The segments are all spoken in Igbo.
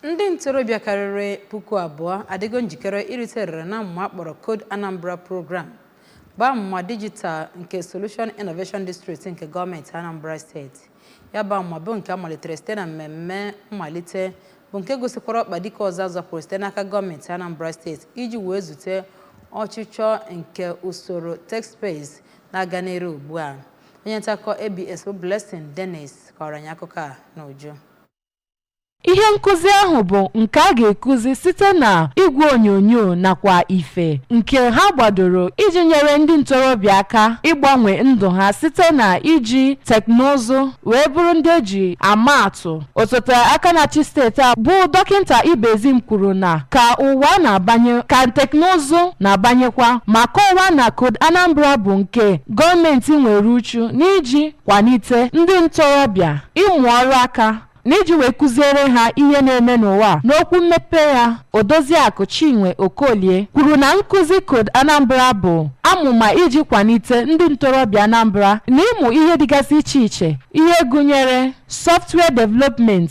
Ndị ntorobịa karịrị puku abụọ adịgo njikere irite erere n'amụma a kpọrọ Code Anambra Program bụ amụma dijital nke Solution Innovation District nke gọọmenti Anambra steeti. Ya bụ amụma bụ nke a malitere site na mmemme mmalite bụ nke gosikwara ọkpa dike ọzọ a zọpụrụ site n'aka gọọmenti Anambra steeti iji wee zute ọchịchọ nke usoro tech space na-aga n'iru ugbu a. Onye ntaakụkọ ABS bụ Blessing Dennis kọọrọ anyị akụkọ a n'uju. Ihe nkụzi ahụ bụ nke a ga-ekuzi site na igwe onyonyo nakwa ife nke ha gbadoro iji nyere ndị ntorobịa aka ịgbanwe ndụ ha site na iji teknụzụ wee bụrụ ndị e ji ama atụ. Osote aka na-achị steeti a bụ Dọkịnta Ibezim kwuru na ka ụwa na-abanye ka teknụzụ na-abanyekwa ma kọwaa na Code Anambra bụ nke gọọmenti nwere uchu n'iji kwalite ndị ntorobịa ịmụ ọrụ aka na iji wee kụziere ha ihe na-eme n'ụwa a. N'okwu mmepe ya, Odoziakụ Chinwe Okolie kwuru na nkụzi Code Anambra bụ amụma iji kwalite ndị ntorobịa Anambra na ịmụ ihe dịgasị iche iche, ihe gụnyere software development,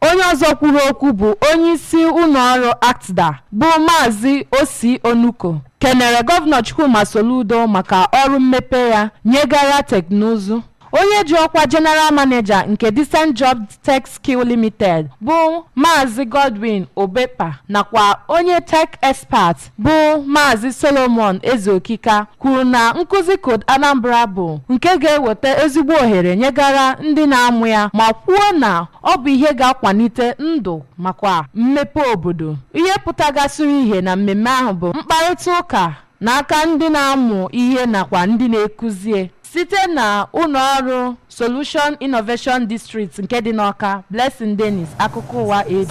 Onye ọzọ kwuru okwu bụ onyeisi ụlọọrụ ACTDA bụ Maazị Ossy Onuko kenere Gọvanọ Chukwuma Soludo maka ọrụ mmepe ya nyegara teknụzụ. Onye ji ọkwa General Manager nke Decent Job Tech Skill Limited bụ Maazị Godwin Obekpa nakwa onye Tech Expert bụ Maazị Solomon Ezeokika kwuru na nkụzi Code Anambra bụ nke ga-eweta ezigbo ohere nyegara ndị na-amụ ya ma kwuo na ọ bụ ihe ga-akwalite ndụ makwa mmepe obodo ihe pụtagasịrị ihe na mmemme ahụ bụ mkparịta ụka n'aka ndị na-amụ ihe nakwa ndị na-ekuzie site na ụlọ ọrụ Solution Innovation District nke dị n'Ọka Blessing Dennis akụkọ ụwa AB